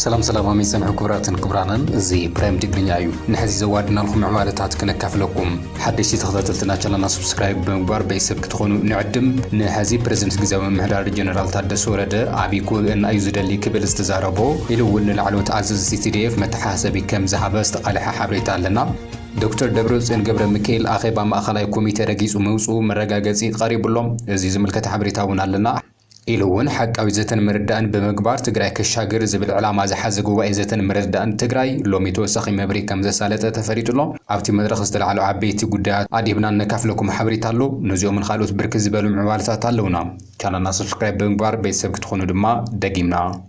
ሰላም ሰላም ኣመይ ሰምዑ ክብራትን ክብራንን እዚ ፕራይም ትግርኛ እዩ ንሕዚ ዘዋድናልኩም ምዕባለታት ክነካፍለኩም ሓደሽቲ ተኸታተልትና ቻናልና ስብስክራይብ ብምግባር ቤተሰብ ትኾኑ ንዕድም። ንሐዚ ፕረዚደንት ግዝያዊ ምምሕዳር ጀነራል ታደሰ ወረደ ዓብዪ ጉብእና እዩ ዝደሊ ክብል ዝተዛረቦ ኢሉ እውን ንላዕለዎት ኣዘዝቲ tdf መተሓሳሰቢ ከም ዝሃበ ዝተቓለሐ ሓበሬታ ኣለና። ዶክተር ደብረፅዮን ገብረሚካኤል ኣኼባ ማእኸላይ ኮሚቴ ረጊፁ ምውፅኡ መረጋገፂ ቐሪቡ'ሎ። እዚ ዝምልከት ሓበሬታ እውን ኣለና። ኢሉ እውን ሓቃዊ ዘተን ምርዳእን ብምግባር ትግራይ ከሻግር ዝብል ዕላማ ዝሓዘ ጉባኤ ዘተን ምርዳእን ትግራይ ሎሚ ተወሳኺ መብርሂ ከምዘሳለጠ ተፈሊጡ ኣሎ። ኣብቲ መድረኽ ዝተላዕሉ ዓበይቲ ጉዳያት ኣድሂብና ነካፍለኩም ሓበሬታ ኣሎ። ነዚኦምን ኻልኦት ብርክት ዝበሉ ምዕባለታት ኣለውና። ቻናልና ሰብስክራይብ ብምግባር ቤተሰብ ክትኾኑ ድማ ደጊምና።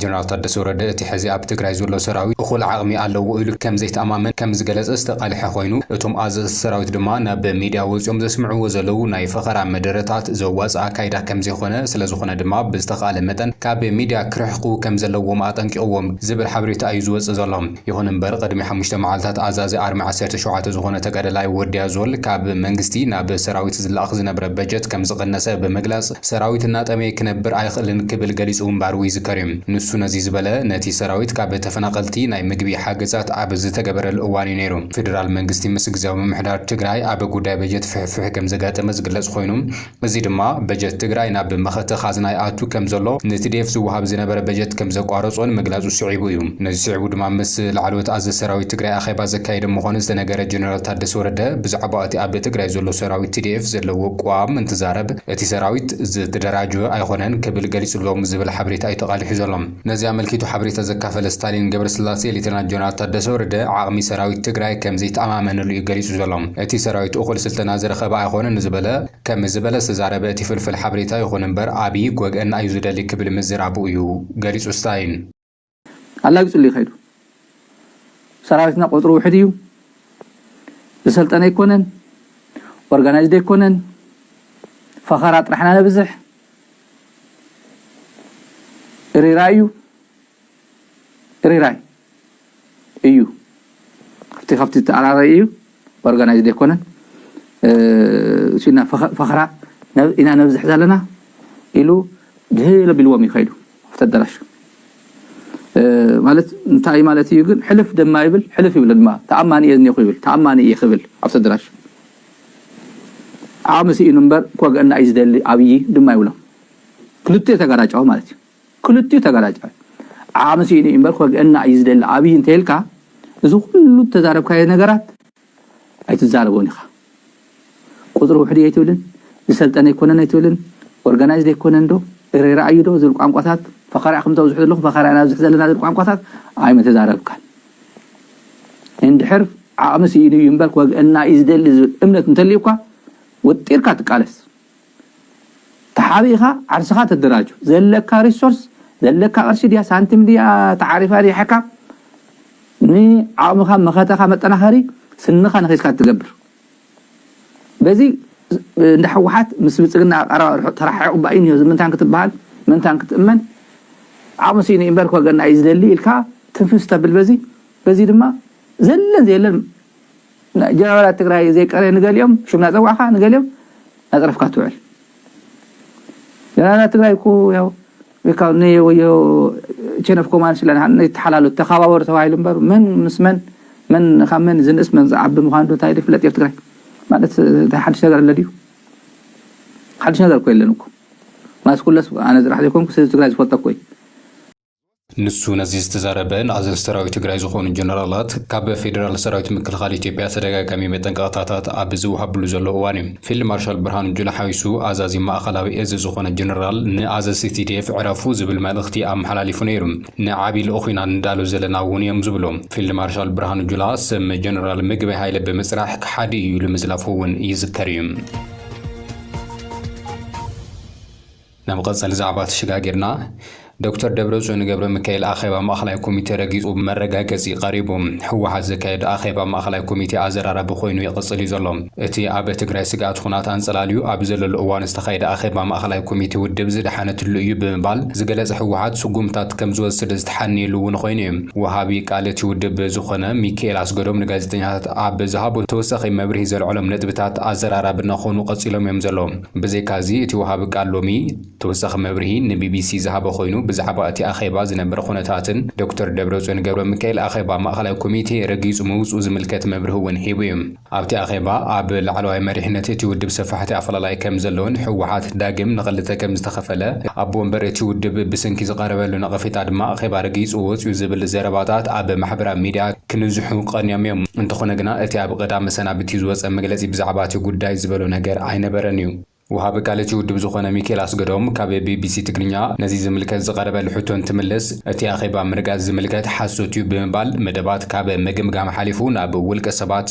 ጀነራል ታደሰ ወረደ እቲ ሕዚ ኣብ ትግራይ ዘሎ ሰራዊት እኹል ዓቕሚ ኣለዎ ኢሉ ከም ዘይተኣማመን ከም ዝገለፀ ዝተቃልሐ ኮይኑ እቶም ኣዘዝቲ ሰራዊት ድማ ናብ ሚድያ ወፂኦም ዘስምዕዎ ዘለው ናይ ፈኸራ መደረታት ዘዋፅእ ኣካይዳ ከም ዘይኾነ ስለዝኾነ ድማ ብዝተኽኣለ መጠን ካብ ሚድያ ክርሕቁ ከም ዘለዎም ኣጠንቂቕዎም ዝብል ሓበሬታ እዩ ዝወፅእ ዘሎ። ይኹን እምበር ቕድሚ ሓሙሽተ መዓልታት ኣዛዚ ኣርሚ ዓሰርተ ሸውዓተ ዝኾነ ተጋዳላይ ወዲ ኣዞል ካብ መንግስቲ ናብ ሰራዊት ዝለኣኽ ዝነብረ በጀት ከምዝቐነሰ ብምግላፅ ሰራዊት እናጠመየ ክነብር ኣይኽእልን ክብል ገሊፁ ምንባሩ ይዝከር ዩ። ንሱ ነዚ ዝበለ ነቲ ሰራዊት ካብ ተፈናቐልቲ ናይ ምግቢ ሓገዛት ኣብ ዝተገበረሉ እዋን ዩ ነይሩ። ፌደራል መንግስቲ ምስ ግዝያዊ ምምሕዳር ትግራይ ኣብ ጉዳይ በጀት ፍሕፍሕ ከምዘጋጠመ ዝግለፅ ኾይኑ፣ እዚ ድማ በጀት ትግራይ ናብ መኸተ ኻዝና ይኣቱ ከም ዘሎ፣ ንትዲኤፍ ዝወሃብ ዝነበረ በጀት ከም ዘቋረጾን ምግላጹ ስዒቡ እዩ። ነዚ ስዒቡ ድማ ምስ ላዕለዎት ኣዘዝቲ ሰራዊት ትግራይ ኣኼባ ዘካየደ ምዃኑ ዝተነገረ ጀነራል ታደሰ ወረደ ብዛዕባ'ቲ ኣብ ትግራይ ዘሎ ሰራዊት ትዲኤፍ ዘለዎ ቅዋም እንትዛረብ እቲ ሰራዊት ዝተደራጀወ ኣይኾነን ክብል ገሊጹ ኣሎ ዝብል ሓበሬታ እዩ ተቓሊሑ ዘሎ። ነዚ ኣመልኪቱ ሓበሬታ ዘካፈለ ስታሊን ገብረስላሴ፣ ሌተናል ጀነራል ታደሰ ወረደ ዓቕሚ ሰራዊት ትግራይ ከምዘይተኣማመነሉ እዩ ገሊፁ ዘሎ። እቲ ሰራዊት እኹል ስልጠና ዝረኸበ ኣይኾነን ንዝበለ ከምዚ ዝበለ ዝተዛረበ እቲ ፍልፍል ሓበሬታ ይኹን እምበር ኣብዪ ክወግኣና እዩ ዝደሊ ክብል ምዝራቡ እዩ ገሊፁ ስታሊን። ኣላጊፁሉ እዩ ከይዱ። ሰራዊትና ቁፅሩ ውሑድ እዩ፣ ዝሰልጠነ ኣይኮነን፣ ኦርጋናይዝድ ኣይኮነን፣ ፈኸራ ጥራሕ ኢና ነብዝሕ፣ እሪራይ እዩ እሪራይ እዩ እቲ ካብቲ ዝተኣራረየ እዩ ኦርጋናይዝድ ኣይኮነን ሲና ፈኸራ ኢና ነብዝሕ ዘለና ኢሉ ድህል ኣቢልዎም እዩ ከይዱ ኣብቲ ኣዳራሽ ማለት እንታይ ማለት እዩ ግን ሕልፍ ድማ ይብል ሕልፍ ይብል ድማ ተኣማኒ እየ ዝኒኹ ይብል ተኣማኒ እየ ክብል ኣብቲ ኣዳራሽ ዓቅሚ ሲኢኑ እምበር ክወግኣና እዩ ዝደሊ ኣብዪ ድማ ይብሎ ክልቲኡ ተጋራጫዊ ማለት እዩ ክልቲኡ ተጋራጫዊ ዓቅሚ ሲኢኑ እዩ እምበር ክወግኣና እዩ ዝደሊ ኣብዪ እንተይልካ እዚ ኩሉ እተዛረብካዮ ነገራት ኣይትዛረቦን ኢኻ ቁፅሪ ውሕድ እየ ኣይትብልን ዝሰልጠነ ኣይኮነን ኣይትብልን ኦርጋናይዝድ ኣይኮነን ዶ እረ ረኣዩ ዶ ዝብል ቋንቋታት ፈኸራ ኢኹም ተብዝሑ ዘለኹም ፈኸራ ኢና ኣብዝሕ ዘለና ዝብል ቋንቋታት ኣይምተዛረብካን እንድሕር ዓቕሚ ስኢኑ እዩ እምበር ክወግኣና እዩ ዝደሊ ዝብል እምነት እንተልዩካ ወጢርካ ትቃለስ። ተሓቢእኻ ዓርስኻ ተደራጁ። ዘለካ ሪሶርስ፣ ዘለካ ቅርሺ ድያ ሳንቲም ድያ ተዓሪፋ ሪሓካ ንዓቕምኻ መኸተኻ መጠናኸሪ ስንኻ ነኺስካ እትገብር። በዚ እንዳ ሕወሓት ምስ ብልፅግና ኣቀራርባ ርሑቕ ተረሓሒቑ እባ ኢንዮ ዝምንታን ክትበሃል ምንታን ክትእመን ዓቕሚ ሲኢኑ ኢምበር ክወገና እዩ ዝደሊ ኢልካ ትንፍስ ተብል በዚ በዚ ድማ ዘለን ዘየለን ጀነራላት ትግራይ ዘይቀረ ንገሊኦም ሽም ናፀዋዕካ ንገሊኦም ናፅረፍካ ትውዕል ጀነራላት ትግራይ እኮ ያው ካብ ናይ ወዮ ቼን ኦፍ ኮማንድ ስለ ዝሃለና ይተሓላሉ ተኻባበሩ ተባሂሉ እምበር መን ምስ መን መን ካብ መን ዝንእስ መን ዝዓቢ ምዃኑ ዶ እንታይ ዶ ይፍለጥ ኣብ ትግራይ ማለት እንታይ ሓድሽ ነገር ኣሎ ድዩ ሓድሽ ነገር እኮ የለን እኮ ማለት ኩለስ ኣነ ዝራሕ ዘይኮንኩ ስዚ ትግራይ ዝፈልጦ እኮ እዩ ንሱ ነዚ ዝተዛረበ ንኣዘዝ ሰራዊት ትግራይ ዝኾኑ ጀነራላት ካብ ፌዴራል ሰራዊት ምክልኻል ኢትዮጵያ ተደጋጋሚ መጠንቀቕታታት ኣብ ዝውሃብሉ ዘሎ እዋን እዩ። ፊልድ ማርሻል ብርሃኑ ጁላ ሓዊሱ ኣዛዚ ማእኸላዊ እዝ ዝኾነ ጀነራል ንኣዘዝቲ TDF ዕረፉ ዝብል መልእኽቲ ኣመሓላሊፉ ነይሩ። ንዓብዪ ልኡኽ ኢና ንዳሎ ዘለና እውን እዮም ዝብሉ ፊልድ ማርሻል ብርሃኑ ጁላ ስም ጀነራል ምግበይ ሃይለ ብምፅራሕ ከሓዲ እዩ ኢሉ ምዝላፉ እውን ይዝከር እዩ። ንመቐጸሊ ዛዕባ ተሸጋጊርና ዶክተር ደብረጽዮን ገብረሚካኤል ኣኼባ ማእኸላይ ኮሚቴ ረጊፁ መረጋገፂ ቀሪቡ። ህወሓት ዘካየዶ ኣኼባ ማእኸላይ ኮሚቴ ኣዘራራቢ ኮይኑ ይቕፅል እዩ ዘሎ። እቲ ኣብ ትግራይ ስግኣት ኹናት ኣንፀላልዩ ኣብ ዘለሉ እዋን ዝተኻየደ ኣኼባ ማእኸላይ ኮሚቴ ውድብ ዝደሓነትሉ እዩ ብምባል ዝገለፀ ህወሓት ስጉምትታት ከምዝወስድ ዝተሓነየሉ እውን ኾይኑ እዩ። ወሃቢ ቃል እቲ ውድብ ዝኾነ ሚኪኤል ኣስገዶም ንጋዜጠኛታት ኣብ ዝሃቦ ተወሳኺ መብርሂ ዘልዐሎም ነጥብታት ኣዘራራቢ እናኾኑ ቀፂሎም እዮም ዘለዉ። ብዘይካ'ዚ እቲ ወሃቢ ቃል ሎሚ ተወሳኺ መብርሂ ንቢቢሲ ዝሃበ ኮይኑ ብዛዕባ እቲ ኣኼባ ዝነበረ ኩነታትን ዶክተር ደብረጽዮን ገብረሚካኤል ኣኼባ ማእከላይ ኮሚቴ ረጊጹ ምውጽኡ ዝምልከት መብርሂ'ውን ሂቡ'ዩ። ኣብቲ ኣኼባ ኣብ ላዕለዋይ መሪሕነት እቲ ውድብ ሰፋሕቲ ኣፈላላይ ከምዘሎን ህወሓት ዳግም ንኽልተ ከምዝተኸፈለ ኣቦ ወንበር እቲ ውድብ ብስንኪ ዝቐረበሉ ነቐፌታ ድማ ኣኼባ ረጊጹ ወጽዩ ዝብል ዘረባታት ኣብ ማሕበራዊ ሚድያ ክንዝሑ ቀንዮም እዮም። እንተኾነ ግና እቲ ኣብ ቐዳም መሰናብቲ ዝወጸ መግለጺ ብዛዕባ እቲ ጉዳይ ዝበሎ ነገር ኣይነበረን እዩ። ወሃቢ ቃል እቲ ውድብ ዝኾነ ሚኪኤል ኣስገዶም ካብ ቢቢሲ ትግርኛ ነዚ ዝምልከት ዝቐረበሉ ሕቶ እንትምልስ እቲ ኣኼባ ምርጋጽ ዝምልከት ሓሶት እዩ ብምባል መደባት ካብ ምግምጋም ሓሊፉ ናብ ውልቀ ሰባት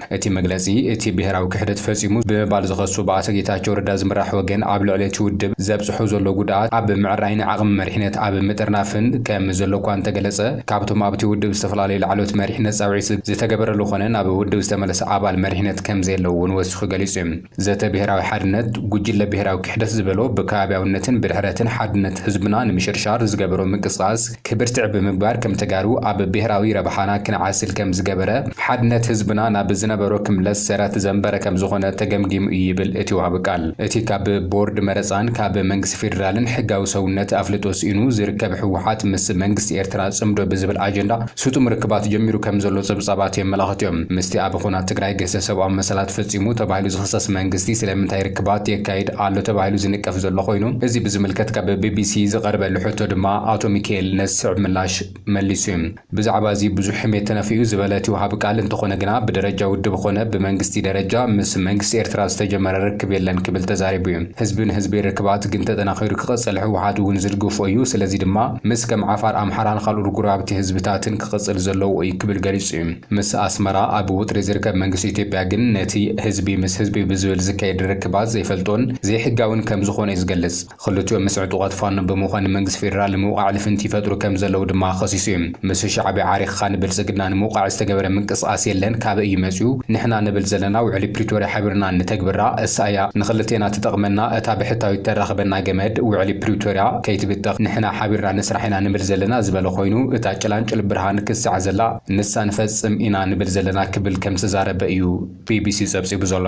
እቲ መግለጺ፣ እቲ ብሄራዊ ክሕደት ፈጺሙ ብምባል ዝኸሱ ብኣቶ ጌታቸው ረዳ ዝምራሕ ወገን ኣብ ልዕሊ'ቲ ውድብ ዘብጽሖ ዘሎ ጉድኣት ኣብ ምዕራይን ዓቕሚ መሪሕነት ኣብ ምጥርናፍን ከም ዘሎ'ኳ እንተገለጸ፣ ካብ'ቶም ኣብ'ቲ ውድብ ዝተፈላለዩ ላዕለዎት መሪሕነት ጻውዒት ዝተገበረሉ ኮነ ናብ ውድብ ዝተመለሰ ኣባል መሪሕነት ከም ዘየለ'ውን ወሲኹ ገሊጹ'ዩ። ዘተ ብሄራዊ ሓድነት፣ ጉጅለ ብሄራዊ ክሕደት ዝበሎ ብከባብያውነትን ብድሕረትን ሓድነት ህዝብና ንምሽርሻር ዝገበሮ ምንቅስቓስ ክብር ትዕ ብምግባር ከም ተጋሩ ኣብ ብሄራዊ ረብሓና ክንዓስል ከም ዝገበረ ሓድነት ህዝብና ናብ ዝነበሮ ክምለስ ሰረት ዘንበረ ከም ዝኾነ ተገምጊሙ እዩ ይብል እቲ ወሃቢ ቃል። እቲ ካብ ቦርድ መረፃን ካብ መንግስቲ ፌዴራልን ሕጋዊ ሰውነት ኣፍልጦ ስኢኑ ዝርከብ ህወሓት ምስ መንግስቲ ኤርትራ ፅምዶ ብዝብል ኣጀንዳ ስጡም ርክባት ጀሚሩ ከም ዘሎ ጸብጻባት የመላኽቱ እዮም። ምስቲ ኣብ ኹናት ትግራይ ግህሰት ሰብኣዊ መሰላት ፈጺሙ ተባሂሉ ዝኽሰስ መንግስቲ ስለምንታይ ርክባት የካይድ ኣሎ ተባሂሉ ዝንቀፍ ዘሎ ኮይኑ እዚ ብዝምልከት ካብ ቢቢሲ ዝቐረበሉ ሕቶ ድማ ኣቶ ሚኪኤል ነዚ ዝስዕብ ምላሽ መሊሱ እዩ። ብዛዕባ እዚ ብዙሕ ሕሜት ተነፊኡ ዝበለ እቲ ወሃቢ ቃል እንተኾነ ግና ብደረጃ ውድብ ኾነ ብመንግስቲ ደረጃ ምስ መንግስቲ ኤርትራ ዝተጀመረ ርክብ የለን ክብል ተዛሪቡ እዩ። ህዝቢ ንህዝቢ ርክባት ግን ተጠናኺሩ ክቕጽል ህወሓት እውን ዝድግፎ እዩ ስለዚ ድማ ምስ ከም ዓፋር፣ ኣምሓራን ካልኦት ጎረባብቲ ህዝብታትን ክቕጽል ዘለዎ እዩ ክብል ገሊጹ እዩ። ምስ ኣስመራ ኣብ ወጥሪ ዝርከብ መንግስቲ ኢትዮጵያ ግን ነቲ ህዝቢ ምስ ህዝቢ ብዝብል ዝካየድ ርክባት ዘይፈልጦን ዘይሕጋዊን ከም ዝኾነ እዩ ዝገልጽ። ክልቲኦም ምስ ዕጡቓት ፋኖ ብምዃን ንመንግስቲ ፌደራል ንምውቓዕ ልፍንቲ ይፈጥሩ ከም ዘለዉ ድማ ከሲሱ እዩ። ምስ ሻዕብያ ዓሪኽኻ ንብልጽግና ንምውቓዕ ዝተገበረ ምንቅስቓስ የለን፣ ካበይ እዩ መጺኡ? ንሕና ንብል ዘለና ውዕሊ ፕሪቶርያ ሓቢርና እንተግብራ እሳ እያ ንኽልቴና ትጠቕመና፣ እታ ብሕታዊት ተራኽበና፣ እታ ገመድ ውዕሊ ፕሪቶርያ ከይትብተኽ ንሕና ሓቢርና ንስራሕ ኢና ንብል ዘለና ዝበለ ኮይኑ እታ ጭላንጭል ብርሃን ክሳዕ ዘላ ንሳ ንፈጽም ኢና ንብል ዘለና ክብል ከምዝተዛረበ እዩ ቢቢሲ ጸብጺቡ ዘሎ።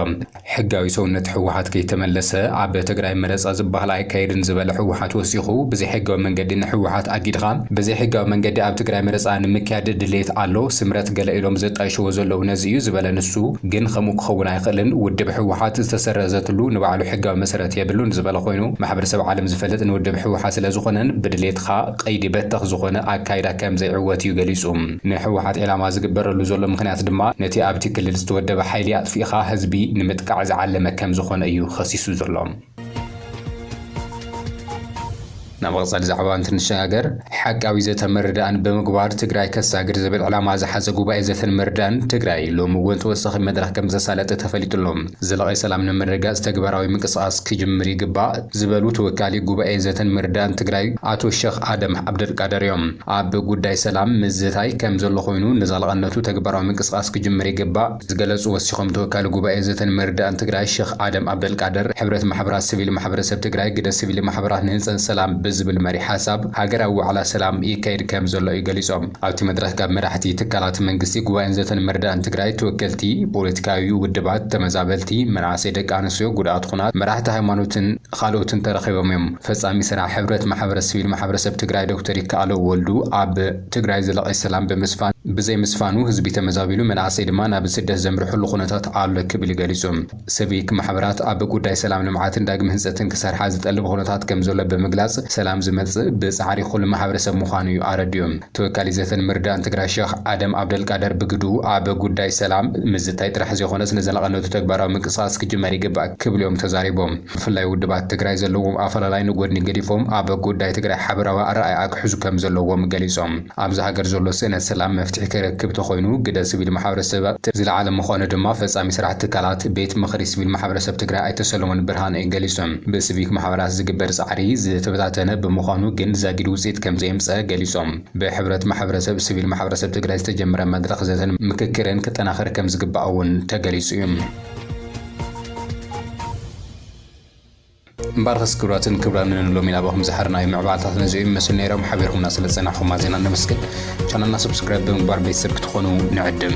ሕጋዊ ሰውነት ህወሓት ከይተመለሰ ኣብ ትግራይ መረጻ ዝበሃል ኣይካየድን ዝበለ ህወሓት ወሲኹ ብዘይሕጋዊ መንገዲ ንህወሓት ኣጊድኻ ብዘይሕጋዊ መንገዲ ኣብ ትግራይ መረጻ ንምክያድ ድሌት ኣሎ ስምረት ገለ ኢሎም ዘጣይሽዎ ዘለዉ ነዚ እዩ ዝበለ ንሱ ግን ከምኡ ክኸውን ኣይኽእልን፣ ውድብ ህወሓት ዝተሰረዘትሉ ንባዕሉ ሕጋዊ መሰረት የብሉን ዝበለ ኮይኑ፣ ማሕበረሰብ ዓለም ዝፈልጥ ንውድብ ህወሓት ስለዝኾነን ብድሌትኻ ቀይዲ በተኽ ዝኾነ ኣካይዳ ከምዘይዕወት እዩ ገሊፁ። ንህወሓት ዒላማ ዝግበረሉ ዘሎ ምኽንያት ድማ ነቲ ኣብቲ ክልል ዝተወደበ ሓይሊ ኣጥፊእኻ ህዝቢ ንምጥቃዕ ዝዓለመ ከምዝኾነ እዩ ኸሲሱ ዘሎ። ናብ መቐጸሊ ዛዕባ እንትንሸጋገር ሓቃዊ ዘተን ምርዳእን ብምግባር ትግራይ ከሳግር ዝብል ዕላማ ዝሓዘ ጉባኤ ዘተን ምርዳእን ትግራይ ሎሚ እውን ተወሳኺ መድረኽ ከምዘሳለጠ ተፈሊጡ ኣሎ። ዘላቒ ሰላም ንምርግጋፅ ተግባራዊ ምንቅስቓስ ክጅምር ይግባእ ዝበሉ ተወካሊ ጉባኤ ዘተን ምርዳእን ትግራይ ኣቶ ሸኽ ኣደም ዓብደልቃደር እዮም። ኣብ ጉዳይ ሰላም ምዝታይ ከምዘሎ ኮይኑ ንዘላቐነቱ ተግባራዊ ምንቅስቓስ ክጅምር ይግባእ ዝገለፁ ወሲኾም ተወካሊ ጉባኤ ዘተን መርዳእን ትግራይ ሸኽ ኣደም ኣብደልቃድር ሕብረት ማሕበራት ስቪል ማሕበረሰብ ትግራይ ግደ ስቪል ማሕበራት ንህንፀት ሰላም ብዝብል መሪሕ ሓሳብ ሃገራዊ ዋዕላ ሰላም ይካየድ ከምዘሎ እዩ ገሊፆም። ኣብቲ መድረኽ ካብ መራሕቲ ትካላት መንግስቲ፣ ጉባኤን ዘተን መርዳእን ትግራይ፣ ተወከልቲ ፖለቲካዊ ውድባት፣ ተመዛበልቲ፣ መናእሰይ፣ ደቂ ኣንስትዮ፣ ጉዳኣት ኹናት፣ መራሕቲ ሃይማኖትን ኻልኦትን ተረኺቦም እዮም። ፈፃሚ ስራሕ ሕብረት ማሕበረት ስቪል ማሕበረሰብ ትግራይ ዶክተር ይከኣሎ ወልዱ ኣብ ትግራይ ዘላቒ ሰላም ብምስፋን ብዘይምስፋኑ ህዝቢ ተመዛቢሉ መናእሰይ ድማ ናብ ስደት ዘምርሕሉ ኩነታት ኣሎ ክብል ገሊፁ። ስቪክ ማሕበራት ኣብ ጉዳይ ሰላም ልምዓትን ዳግመ ህንፀትን ክሰርሓ ዝጠልብ ኹነታት ከምዘሎ ብምግላፅ ሰላም ዝመፅእ ብፃዕሪ ኹሉ ማሕበረሰብ ምዃኑ እዩ ኣረዲኡ። ተወካሊ ዘተን ምርዳእን ትግራይ ሸኽ ኣደም ኣብደልቃደር ብግድኡ ኣብ ጉዳይ ሰላም ምዝታይ ጥራሕ ዘይኾነስ ንዘላቕነቱ ተግባራዊ ምንቅስቓስ ክጅመር ይግባእ ክብሉ እዮም ተዛሪቦም። ብፍላይ ውድባት ትግራይ ዘለዎም ኣፈላላይ ንጎድኒ ገዲፎም ኣብ ጉዳይ ትግራይ ሓበራዊ ኣረኣእያ ክሕዙ ከምዘለዎም ገሊፆም። ኣብዚ ሃገር ዘሎ ስእነት ሰላም መፍትሒ ክረክብ ተኾይኑ ግደ ስቪል ማሕበረሰብ እቲ ዝለዓለ ምዃኑ ድማ ፈፃሚ ስራሕ ትካላት ቤት ምኽሪ ስቪል ማሕበረሰብ ትግራይ ኣይተ ሰሎሞን ብርሃነ ገሊፁ። ብስቪክ ማሕበራት ዝግበር ፃዕሪ ዝተበታተነ ብምዃኑ ግን ዛጊድ ውፅኢት ከምዘየምፀኣ ገሊፆም። ብሕብረት ማሕበረሰብ ስቪል ማሕበረሰብ ትግራይ ዝተጀመረ መድረኽ ዘተን ምክክርን ክጠናኸር ከምዝግባእ እውን ተገሊፁ እዩ። እምበኣርከስ ክብራትን ክብራንን ሎሚ ናባኹም ዝሓርናዮ ምዕባለታት ነዚኦም ይመስሉ ነይሮም ሓቢርኩምና ስለ ዝጸናሕኹም ኣዜና ነመስግን ቻናልና ሰብስክራይብ ብምግባር ቤተሰብ ክትኾኑ ንዕድም